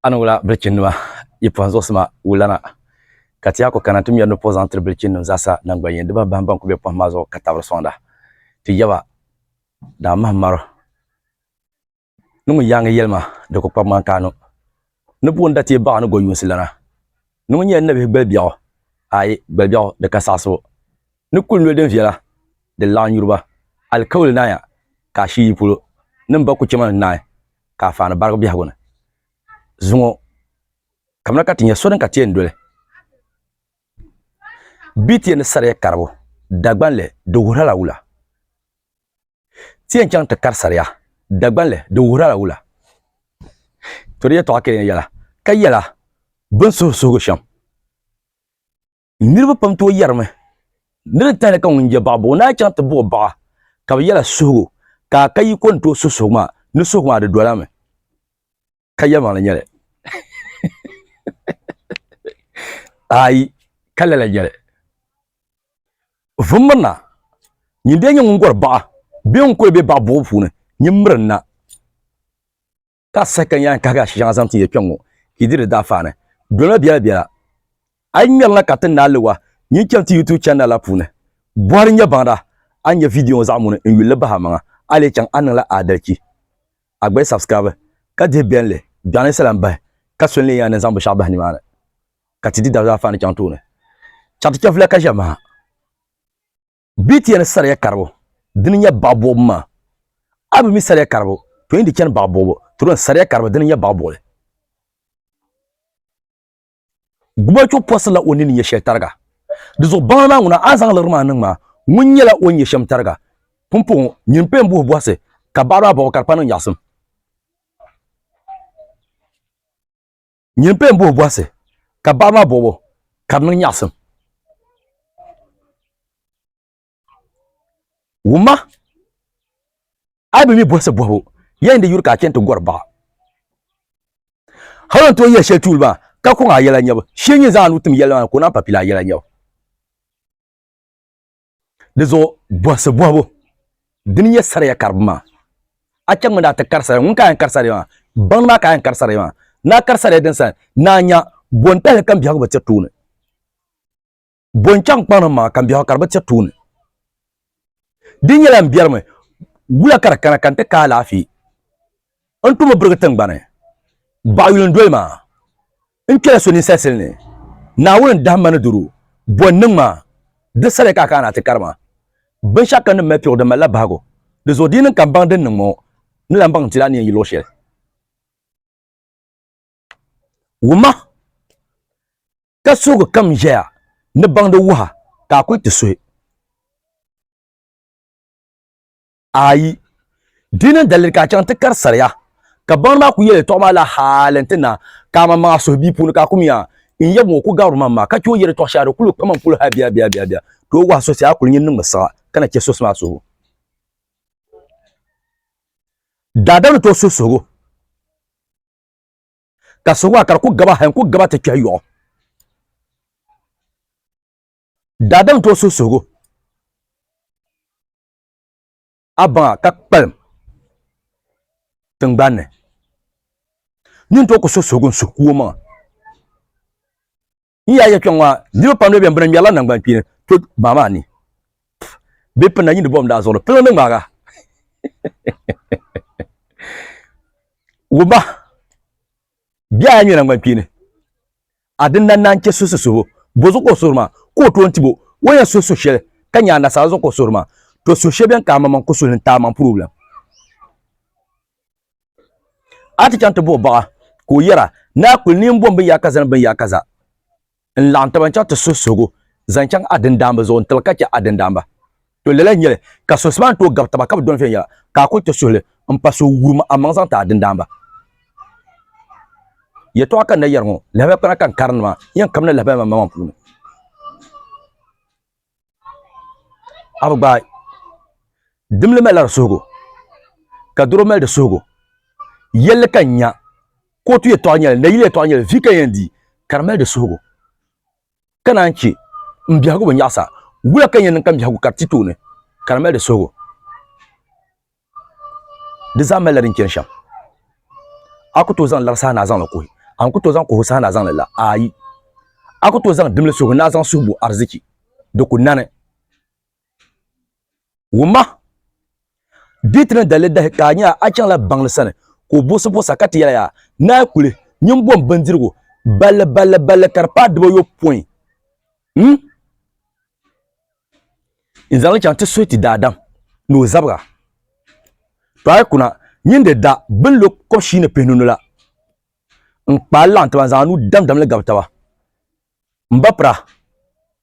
Ani wula bilichinnima yi pɔhim zuɣusima wulana, ka ti yaa ku kana nti mɛri ni puhi zaŋ tiri bilichinnim zaasa naŋgbanyin dibahi bahim bɛn ku be pɔhim maa zuɣu ka tabiri sɔŋda ti yaba daa mahim maro ni ŋun yaaŋi yɛlima di ku kpabi ŋmani ka a nu ni buɣim da teei baɣa ni gɔ yuunsi lana ni ŋun nyɛla nabihi gbali biɛɣu, aai gbali biɛɣu di ka saɣisibu ni kuli noli din viɛla din laɣim yuri ba alikauli naaya ka a shii yi polo nim ba ku chɛma ni naai ka a faani barigi biɛhigu ni. Zuŋɔ kamina ka ti nya so din ka ti yɛn doli BTN ni sariya karibu Dagbanli di wuhiri a la wula? Ti yɛn chaŋ ti kari sariya Dagbanli di wuhiri a la wula? To di yɛltɔɣa kɛlina yɛla ka yɛla binsuhusuhigu shɛm. niriba pam tooi yɛrimi ni di tahali ka ŋun je baɣa buɣu naa chaŋ ti buɣi baɣa ka bi yɛla suhigu ka a ka yi ko ni tooi su suhigu maa ni suhigu maa di dola mi ka yɛlimaŋli nyɛli ayi ka lala nyɛli vum mirina nyin dee nyɛ ŋun gɔri baɣa bee ŋun kuli be baɣa buɣu puuni nyin mirinna ka a saha ka yaan kahi a shɛŋa zaŋ ti ya kpɛŋŋo ka yi diri di daafaani dolima biɛla biɛla. A yi ŋmɛri na ka ti naai li wa, nyin chani ti YouTube channel la puuni. Bɔhiri n-nyɛ baŋda a ni nya video ŋo zaɣ muni n yuli li bahi a maŋa. A lee chaŋ a niŋ la aadalichi. A gba yi subscribe ka dihi bɛnli biɛɣu ni sala m-bahi ka so n-lee yaan ni zaŋ binshɛɣu bahi nimaani ka ti di daafaani chaŋ tooni. Chɛriti chɛfula ka ʒɛ maha. Bitiya ni sariya karibu dini nya baɣibuɣibu maa, a bi mi sariya karibu to yi di chani baɣibuɣibu ti dɔni sariya karibu dini nya baɣibuɣili. Gumachuɣu pɔsirila o nini nyɛ shɛli tariga. Di zuɣu baŋli maa ŋuna a ni zaŋ liɣiri maa niŋ maa, ŋuni nyɛla o ni nyɛ shɛm tariga. Pumpɔŋɔ, nyini paya m-buhi bɔhisi, ka baɣiri maa bɔhigi ka di pa niŋ nyaɣisim. nyini pɛ n buhi bɔhisi ka baɣa maa bɔbo ka di niŋ nyaɣisim wumma a yi bi mi bɔhisi bɔhibu yɛn di yuri ka a chɛni ti gɔri baɣa hali n tooi yɛli shɛli tuuli maa ka kɔŋ a yɛla nyɛbu shee nyini zaŋ a nuu tim yɛlli maa ni ka o naan pa pili a yɛla nyɛbu Di zuɣu bɔhisi bɔhibu dini nyɛ sariya karibu maa. A chaŋ mi ni a ti kari sariya ŋun ka a yɛn kari sariya maa, baŋdi maa ka a yɛn kari sariya maa. Ni a kari sariya din saha ni a nya bɔntahili ka m-biɛhigu bi tiri tuuni. Bɔnchaŋ kpaŋ ni m-maŋa ka m-biɛhigu ka di bi tiri tuuni. Di nyɛla m biɛrimi wula ka di kana ka n ti ka alaafee. N tumo birigi tiŋgbani, baɣa yuli n-doli ma. N kpela so ninsalisili ni, Naawuni n-dahi ma ni doro, bɔ n-niŋ ma, di sariya ka a kana ti kari ma. Binshɛɣu kam din mali piɛgu di malila bahigu, di zuɣu di yi niŋ ka m baŋ din niŋ ŋɔ, ni lan baŋ n ti lan neei yi luɣ shɛli. Wumma! Ka suhigu kam ʒɛya ni baŋdi wuha, ka a kuli ti suhi. Ayi, di ni daliri ka a chaŋ ti kari saria. Kabaŋdi maa ku yɛli tɔɣu maa la hal nti na, ka a maŋmaŋa suhu bia puuni ka a kumiya. N yab ŋɔ ku gabiri ma ma, ka chɛ o yɛli tɔɣu shɛli di kul kpa ma polo hal biɛbiɛbiɛbiɛbiɛ. Tooi wahi sosi a kul nyin niŋmi siɣa, ka na chɛ sosi maa suhibu. Daadam ni tooi suhi suhigu, ka suhigu maa ka di ku gaba hal n-ku gaba ti kpɛhi yɔɣu. Daadam ni tooi suhi suhigu. a baŋa ka kpalim tingbanni nyin to ku so suhugu n suhu ku o maŋa n yaaya kpɛŋ maa niriba pam bɛn bina ŋmɛrila nangban kpeeni to baa maa ni bɛ pinna yindi bɔbim daa zuɣu piliŋ ni ŋmaaga wumba biɛhi a ŋmɛ nangban kpeeni A din na naan chɛ so so suhu, bɔzuɣu ka o suhuri maa? Ka o tooi tib o, o yɛn suhi suhu shɛli, ka nya anashaara zuɣu ka o suhuri maa? To suhu shɛli bɛn ka amaŋmaŋ ku suhili n-ti amaŋ purubilim. A ti chaŋ ti buɣi baɣa, ka o yɛra, Naa kuli ni m-bom binyaakaza ni binyaakaza n-laɣim taba n-chaŋ ti suhi suhigu zaŋ chaŋ a dindaamba zuɣu n-tiri ka chɛ a dindaamba. To lala n nyɛli ka suhisi maa ni tooi gabi taba ka bi dɔni viɛnyɛla ka a kuli ti suhili n pa so wurim a maŋ zaŋ ti a dindaanba. Yɛtɔɣa ka n na yɛri ŋɔ, lahabaya kpana ka n karindi maa, yɛn kabina lahabaya maa maŋmaŋ puuni. A bi gbaai, dimli malila di suhigu, ka doro mali di suhigu. Yɛlli ka n nya, kootu yɛtɔɣa nyɛli, nayili yɛtɔɣa nyɛli, vi ka n yɛn di, ka di mali di suhigu. ka naan chɛ m biɛhigu bi nyaɣisa, wula ka n yɛn niŋ ka m biɛhigu kari ti tooni, ka di mali di suhigu? Di zaa malila din chani shɛm. A ku tooi zaŋ lari saha ni a zaŋ li kuhi? A ni ku tooi zaŋ kuhibu saha ni a zaŋ li la? Aai! A ku tooi zaŋ dimli suhigu ni a zaŋ suhi bo ariziki? Di ku nani. Wumma! Di ti ni dalili dahi ka a nya a chaŋla baŋli sani ka o bosi bosa ka ti yɛli ya, Naai kuli nyu m-bom bindirigu balli balli balli ka di paai dibɔyopɔin m zaŋ li chaŋ ti suhiti daadam ni o zabiga. To a yi kuna nyin di da bɛ ni lo kɔb shii ni pihinunu la, n kpaai laɣim tiba n-zaŋ a nuu damdam li gabi taba. M ba pira,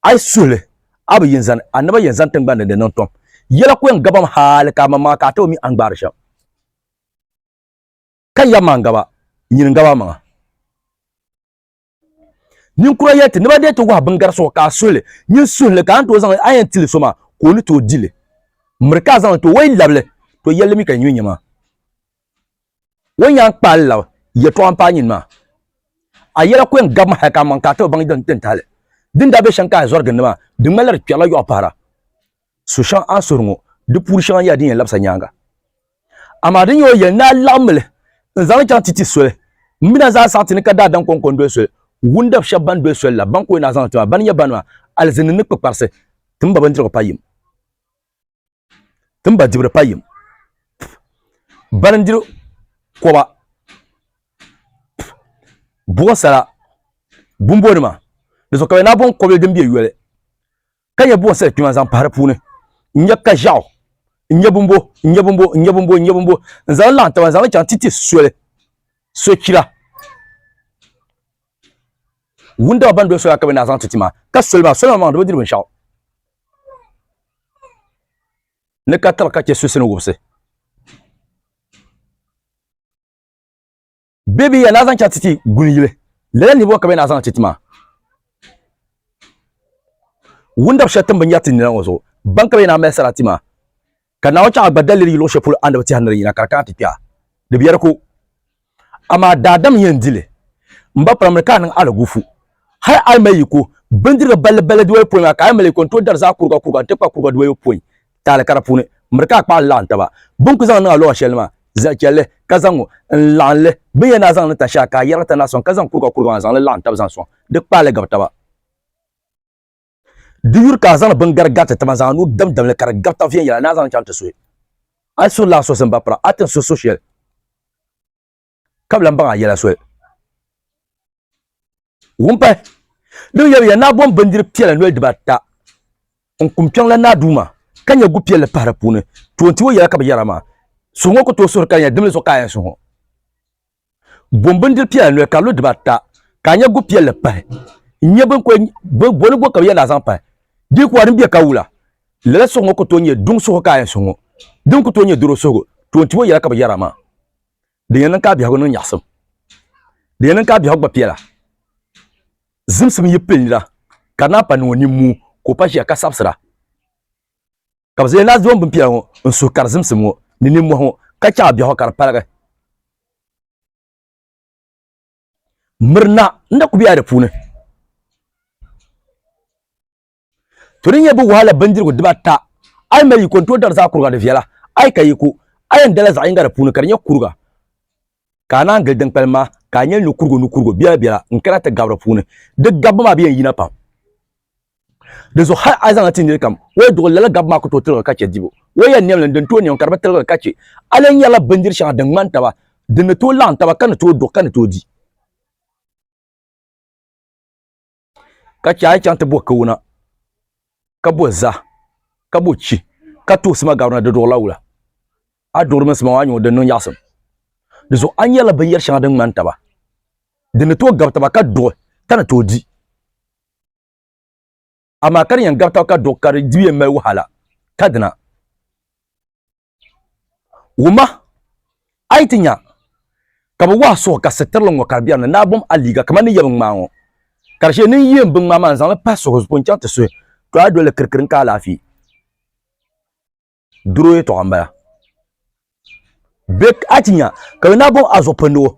a yi suhi li, a bi yin zani, a naba yɛn zani tiŋgbani ni di niŋ tom. Yɛla ku yɛn gabim hali ka amanmaŋa ka a taba mi a ni gbaari shɛm. Ka yaba maa n-gaba, nyini n-gaba amaŋa. Ninkura yɛli ti, ni ba deei ti wahu biŋgari suɣu ka a suhi li, nyin suhi li ka a ni tooi zaŋ a yɛn ti li so maa ka o ni tooi di li. Miri ka a zaŋ li ti o, o yi labi li, to yɛli li mi ka yi nyu n-nyɛ maa. O ni yɛn kpaai lab yɛtɔɣa m-paai nyini maa, a yɛla ku yɛn gabi ma hal ka amaŋ ka a ti bi baŋ din tahi li. Din daa be shɛm ka a zɔri gindi maa, di ŋmanila di kpɛrila yɔɣu pahira. So shɛŋa a ni suhiri ŋɔ, di puuni shɛŋa nyɛla din yɛn labisa nyaaŋa. Amaa din nyɛ o yɛli ni a laɣim mi li n-zaŋ li chaŋ ti ti soli, m-mi na zaa saɣiti ni ka daadam kɔŋko n-doli soli. Wundab shɛb bɛn doli soli la, bɛn ka o ni a zaŋ li ti maa, bɛ ni nyɛ bani maa, alizini ni kpikparisi, ti mi ba bindirigu payim. Ti ni ba dibiri pa yim balindiri koba buɣu sala bumbo nima di zuɣu ka bɛ na boŋ kɔbili din bɛ yoli ka nyɛ buɣu sali kpima zaŋ pahi di puuni n nyɛ ka ʒiɛɣu n nyɛ bumbo n nyɛ bumbo n nyɛ bumbo n nyɛ bumbo n zaŋ laɣam taba n zaŋli chaŋ titi soli sochira wuntaŋa ban doli sola ka bɛ naa zaŋ ti tima ka soli maa soli maa maŋ di bi diri binshaɣu ni ka tiri ka chɛ susi ni wubisi bɛ bi ya naa zaŋ chaŋ ti ti guni yili lala nihibu ka bɛ naa zaŋ ti tima wundab shɛli tim binyɛri ti nina ŋɔ zuɣu ban ka bɛ naa mali sarati maa Ka Naawuni chaŋ a gba daliri yi luɣ shɛli polo anabi tɛha ni di yina ka di kana ti kpɛha, di biɛri ku. Amaa daadam yɛn di li. M ba pirimli ka a niŋ alagufu. Hal a yi mali yi ko bindiriga balli balli dibɔyopɔin maa, ka a yi mali yi ko n-tooi dari zaa kuriga kuriga n-ti kpa kuriga dibɔyopɔin taali ka di puuni miri ka a kpaɣili laɣim taba. Bɛ ni ku zaŋ niŋ a luɣ shɛli maa, zali chɛ li, ka zaŋ ŋ-ŋɔ n-laɣim li. Bɛ ni yɛn daa zaŋ li tahi shɛha, ka a yɛrigi tani na sɔŋ, ka zaŋ kuriga kuriga maa zaŋ li laɣim taba zaŋ sɔŋ, di kpaai li gabi taba. di yuri ka a zaŋdi biŋgari gari ti tiba zaŋ a nuu damdam li ka di gabi ta viɛnyɛla ni a zaŋ chaŋ ti suhi a suhi lan sosim ba pira a tin suhi so shɛli ka bi lan baŋ a yɛla soli wumpahi din yɛbiya ni a bom bindiri piɛla noli dibata n kum kpɛŋ la naa duuma ka nyɛ gu piɛlli pahi di puuni toon ti o yɛla ka bi yɛra maa suhi ŋɔ ku tooi suhuri ka di nyɛ dimli zuɣu ka a yɛn suhi ŋɔ Bom bindiri piɛla noli ka lu dibata ka nya gu piɛlli pahi n-nyɛ boni go ka bɛ yɛn daa zaŋ pahi di kuwa din bɛ ka wula lala suhu ŋɔ ku tooi nyɛ duŋ suhu ka a yɛn suhu ŋɔ din ku tooi nyɛ doro suhigu toon ti o yɛla ka bɛ yɛra maa di yɛn niŋ ka a biɛhigu niŋ nyaɣisim di yɛn niŋ ka a biɛhigu gba piɛla zimsim yi pili nira ka di naan pa niŋ o nimmuu ka o pa ʒiya ka sabisira ka bi zaŋ laazim bin piɛla ŋɔ n suhi ka di zimsim ŋɔ ni ninmɔhi ŋɔ ka chaŋ biɛɣu ka di paligi mirina n na ku bɛla di puuni to di nyɛ bi wahala bindirigu dibata a yi mali yiko n tooi dari zaa kuriga di viɛla a yi ka yiko a yɛn dala zaɣ yinga di puuni ka di nyɛ kuriga ka a naan gili din kpalim maa ka a nyɛli nukurigu nukurigu biɛla biɛla n kana ti gabiri puuni di gabbu maa bi yɛn yina pam di zuɣu hali a zaŋla ti niri kam o yi duɣi lala gabbu maa ku tooi tiligi ka chɛ dibu o yɛn niɛmli n din tooi niɛm ka di bi tiligi ka chɛ a lee nyɛrila bindiri shɛŋa din ŋmani taba din ni tooi laɣim taba ka ni tooi duɣi ka ni tooi di ka chɛ a yi chaŋ ti bo Kawana ka bo zaa ka bo chi ka tuhi sima gabirina di duɣurila wula a ni duɣuri mini sima ŋɔ a ni nya din niŋ nyaɣasim di zuɣu a ni yɛrila binyɛri shɛŋa din ŋmani taba din ni tooi gabi taba ka duɣi ka ni tooi di amaa ka di yɛn gabi taba ka duɣi ka di dibu yɛn mali wahala ka dina Wuma, a yi ti nya ka bɛ wɔhi suhu ka sitirili ŋɔ ka di biɛri ni naa bom a liiga kaman ni yɛbi ŋmaa ŋɔ, ka di shee ni n yeem biŋmaa maa n-zaŋ li pahi suhu zuɣu n-chaŋ ti suhi, to a doli kirikiri n-ka alaafee. Doro yɛtɔɣa m-bala. Bɛ a ti nya ka yo naa bom a zuɣu pindi o,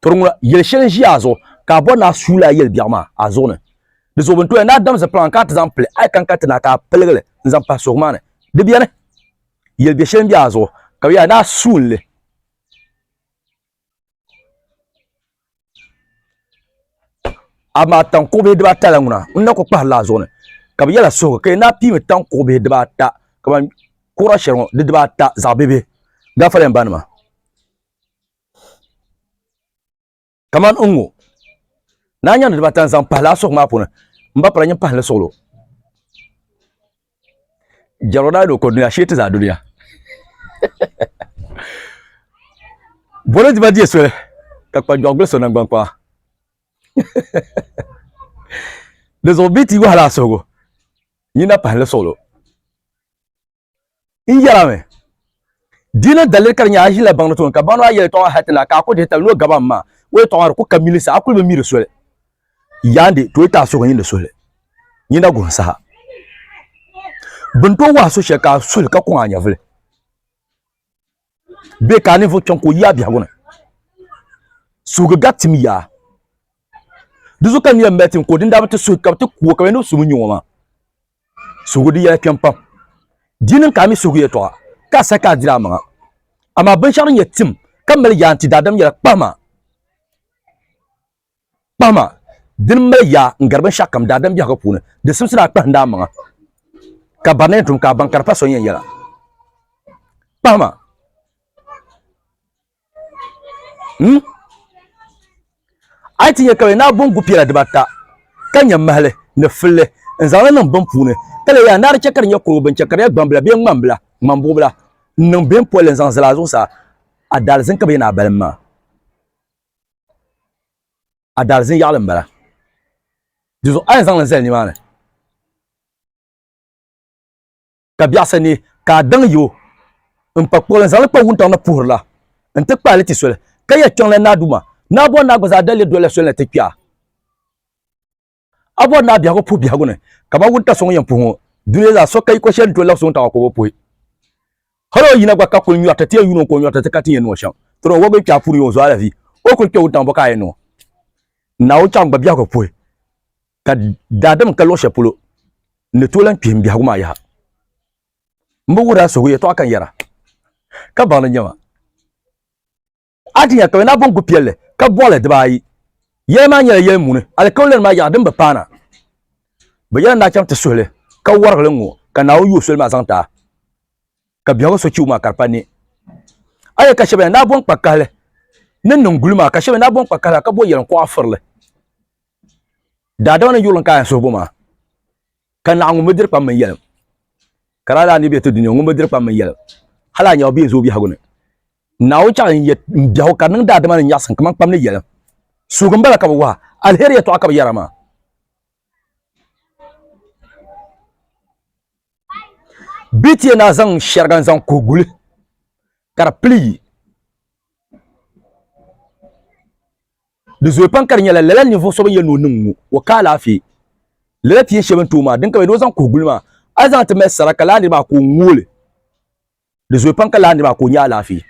to di ŋuna, yɛl shɛli n-ʒi a zuɣu ka a bɔri ni a suui li a yɛli biɛɣu maa a zuɣu ni. Di zuɣu bɛ ni tooi naa dam zipiliŋ a ni ka a ti zaŋ pili, a yi ka n-ka ti naa ka a piligi li n-zaŋ pahi suhu maa ni, di biɛni. yeli be sheli be a zuɣu ka be yaa naa suunli amaa tankɔɣu bihi dibaa ata la ŋuna n na ku kpahiri la a zuɣu ni ka be yɛla suhigu ka yɛ naa piimi tankɔɣu bihi dibaa ata ka ban kura shɛli ŋɔ di dibaa ata zaɣ bibihi gafara yɛn ba nima kamani n ŋo naa nyandi dibata n zaŋ pahi laa suɣu maa puuni n ba pala nyin pahi ni suɣulo jɛro daa lo ko dunia shee ti zaa dunia bolo diba diɛ soli ka kpa jɔɣu gbuliso nangban kpaa di zuɣu bii ti wahala suhugu nyina pahi ni suɣulo n yɛra mi di ni daliri ka di nyɛ a ʒila baŋ ni tooni ka baŋ maa yɛli tɔɣa hati la ka a ku dihi tali ni o gaba n ma o yɛtɔɣa maa di ku ka mili sa a kuli bi mi di soli yaandi to ita a suhu nyini suhuli nyina guhim saha bin to wahi so shɛli ka a suhili ka kɔŋ a nyɛvuli bɛ ka a ninvuɣ kpɛŋ ka o yaai biɛhigu ni. Suhigu gari tim yaa. Di zuɣu ka n yɛn mali tim ka o din daa bi ti suhi ka bɛ ti ku o ka bɛ ni bi su ŋun nyɛ ŋɔ maa. Suhigu di yɛla kpɛm pam. Di niŋ ka a mi suhigu yɛtɔɣa ka a sahi ka a diri amaŋa. Amaa binshɛɣu din nyɛ tim ka mali yaa nti daadam yɛla kpahima. Kpahima, dini mali yaa n-gari binshɛɣukam daadam biɛhigu puuni, di simsi daa kpahinda a maŋa, ka barina yɛn tum ka a baŋ ka di pa so yɛn yɛla. Kpahima, m, a yi ti nya ka bɛ naai boŋ gu piɛla dibaata, ka nya mahili ni filli n-zaŋ li niŋ bini puuni, ka leei a ni a di chɛ ka di nyɛ kurugu bini chɛ ka di nyɛ gbambila bee ŋmambila, ŋmambuɣubila, n-niŋ bini polli n-zaŋ zali a zuɣusaa, a daalizin ka bɛ yɛn naai balim maa. Adaalizin yaɣili m bala. Dizuɣu a yɛn zaŋ li zali nimaani ka biɛɣisa neei ka a daŋ yi o n pa kpuɣili n zaŋ li kpa wuntaŋ ni puhiri la n ti kpaai li ti soli ka yɛli kpiɔŋ la Naa Duuma, Naa Bɔŋ Naa gba zaa dali li doli la soli na ti kpɛɣa. A bɔri ni a biɛhigu puhi biɛhigu ni kamani wuntaŋ so ŋun yɛn puhi ŋɔ, duniya zaa so ka yi ko shɛli n-tooi labisi wuntaŋ maa ka o bi puhi. Hal o yina gba ka kul nyɔri ti ti yɛn yuuni o ka o nyɔri ti ti ka ti ni yɛn niŋ o shɛm. Tɔra o wɔbigu kpɛɣu puuni yi o zuɣu alahizi, o kul kpe wuntaŋ bɔ ka a yɛn niŋ o? Naawuni chaŋ gba biɛhigu puhi, ka daadam ka luɣ shɛli polo n ni tooi lan kpihim m biɛhigu maa yaha. M bi wuhir a suhigu yɛtɔɣa ka n yɛra, ka baŋ ni n-nyɛ ma. Adinya ka bɛ naai bɔŋgu piɛlli ka bɔɣi li dibaayi. Yɛli maa nyɛla yɛli muuni, alikauli maa yaɣa din bi paana. Bɛ yɛla ni a chaŋ ti suhi li, ka wɔrigi li ŋ-ŋɔ, ka Naawuni yuui soli maa zaŋ ti a, ka biɛhigu so chibu maa ka di pa ni a yɛli ka shɛba ya ni a bɔŋ kpa kahili ni niŋ guli maa, ka shɛba ya ni a bɔŋ kpa kahili ka bo yɛliŋ kuɣa firi li. Daadama ni yurilim ka a yɛn suhi bo maa, ka naɣ ŋun bi diri kpam mini yɛlim. Ka di a daa ni bɛ ti dunia ŋun bi diri kpam mini yɛlim, hal a nya o bee n-zo o biɛhigu ni. Naawuni chaɣi n yet m biɛhigu ka di niŋ daadama ni nyaɣisim kaman kpam ni yɛlim. Suugi m-bala ka bɛ wahi, alheri yɛtɔɣa ka bɛ yɛra maa. Bɛ ti yɛn daa zaŋ shɛriga n-zaŋ kuhi guli ka di pili yi. Di zooi pam ka di nyɛla lala ninvuɣ so bɛn yɛli ni o niŋ ŋ-ŋɔ, o ka alaafee. Lala ti yɛn shɛli bɛn tooi maa, din ka bɛ ni o zaŋ kuhi guli maa, a ni zaŋ ti mali sara ka lala nir maa ka o ŋ-ŋ o li. Di zooi pam ka lahi niriba ka o nyɛ alaafee.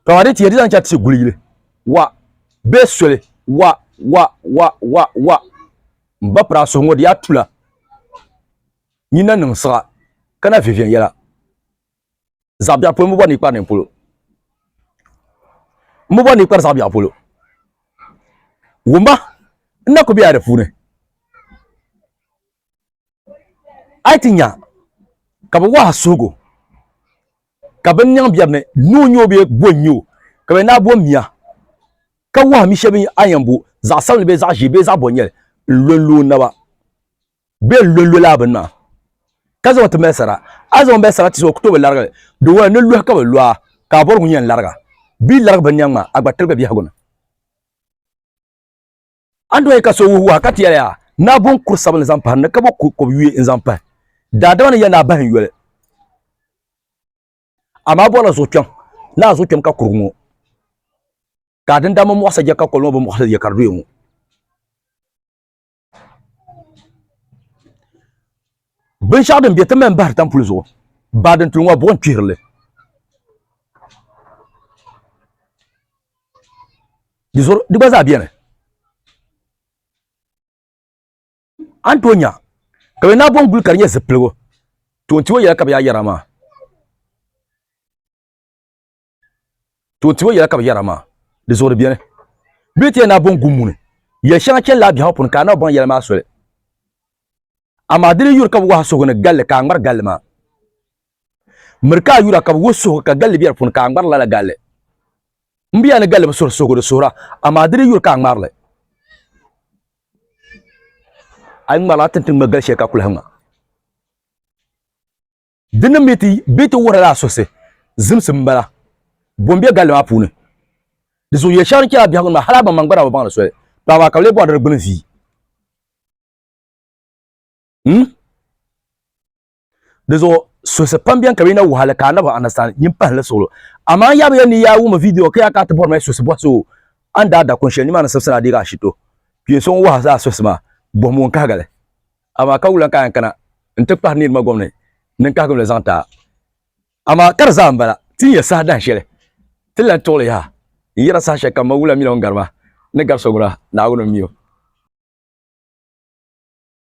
Pam a di tiya di zaŋ chaŋ ti guli yili. Wa, bee soli, wa, wa, wa, wa, wa. M ba piri a suhu ŋɔ di yaa tula. Nyin na niŋ siɣa ka na vi viɛnyɛla. Zaɣ biɛɣu polo m bi bɔri ni yi kpari nini polo. M bi bɔri ni yi kpari zaɣ biɛɣu polo. Wumba n na ku be a di puuni. a yi ti nya ka bɛ wahi suhigu ka bɛ niŋ biɛri ni noo nyɛ o bee bo n-nyɛ o ka bɛ naai bo mia ka wahi mi shɛba mi a yɛn bo zaɣ sabinli bee zaɣ ʒee bee zaɣ bɔ n-nyɛli n-lo n-lo o naba bee n-lo n-lo lala bini maa ka zaŋ o ti mali sara a zaŋ o mali sarati zuɣu o ku tooi bi larigi li di ŋɔni ni lɔhi ka bɛ lo a ka a bɔrigu yɛn lariga bɛ yi larigi binniɛŋ maa a gba tiligi biɛhigu ni Andoyi ka so wuhi wahi ka ti yɛli yaa, Naa bo n-kuri sabinli zaŋ pahi n ni ka bo kuri kɔb yuya n-zaŋ pahi daadama ni ya ni a bahi n yoli? Amaa a bɔrila zuɣukpɛm ni a zuɣukpɛm ka kurigu ŋɔ, ka a dindammi mɔɣisi a je ka kɔli ŋɔ bi mɔɣisi je ka di doya ŋɔ. Binshaɣu din bɛ ti mali bahiri tampuli zuɣu baa din tuli ŋɔ buɣim kpihirili. Di zoro di gba zaa beni. A ni tooi nya ka bɛ naai bonguli ka di nyɛ zipiligu toon ti o yɛla ka bɛ yaa yɛra maa. to tiyo yɛla ka bi yɛra maa di zuɣuri biɛni bɛ ni ti yɛn naa bɔŋ gummuni yɛli shɛŋa chɛni la biɛhaŋ puuni ka a na bɔŋ yɛla maa soli amaa di ni yuri ka bi wahi suhu ni galli ka a ŋmari galli maa miri ka a yura ka bi wuhi suhu ka galli bɛ di puuni ka a ŋmari lala galli n bɛ yaa ni galli bi suhuri suhugu di suhura amaa di ni yuri ka a ŋmarili a yi ŋmarila a tinti ŋma gali shɛli ka kuli ha ŋma Di ni mi ti bɛ ti wuhirila a suhisi zimsi m-bala bom be galli maa puuni. Di zuɣu yɛl shɛŋa din chɛla biɛhigu ni maa, hal a baŋ maa gba daa bi baŋ li soli, tɔ amaa ka bɛ lee bɔri di gbini vii. N. Di zuɣu suhisi pam beni ka bɛ yi na wuhi a li ka a nabi understand, nyin pahindi suɣulo. Amaa n yaabiya ni yaa wum vidio ka yaa ka a ti bɔri ma suhisi bɔhisi o, a ni daa da kun shɛli nimaani sibisi ni a deegi ashito. Kpee so ŋun wuhi a suhisi maa, bɔhimbu n-kahigi li. amaa ka wulan ka yan kana n ti kpahi nirima gomni ni n kahigim la zaŋ ti a. Amaa ka di zaa m-bala, ti ni ya saha dahin shɛli, ti ni lan tuɣi li yaha n yɛra saha shɛli kam ma wula mini o ni gari ma ni gari so gura Naawuni m-mi o.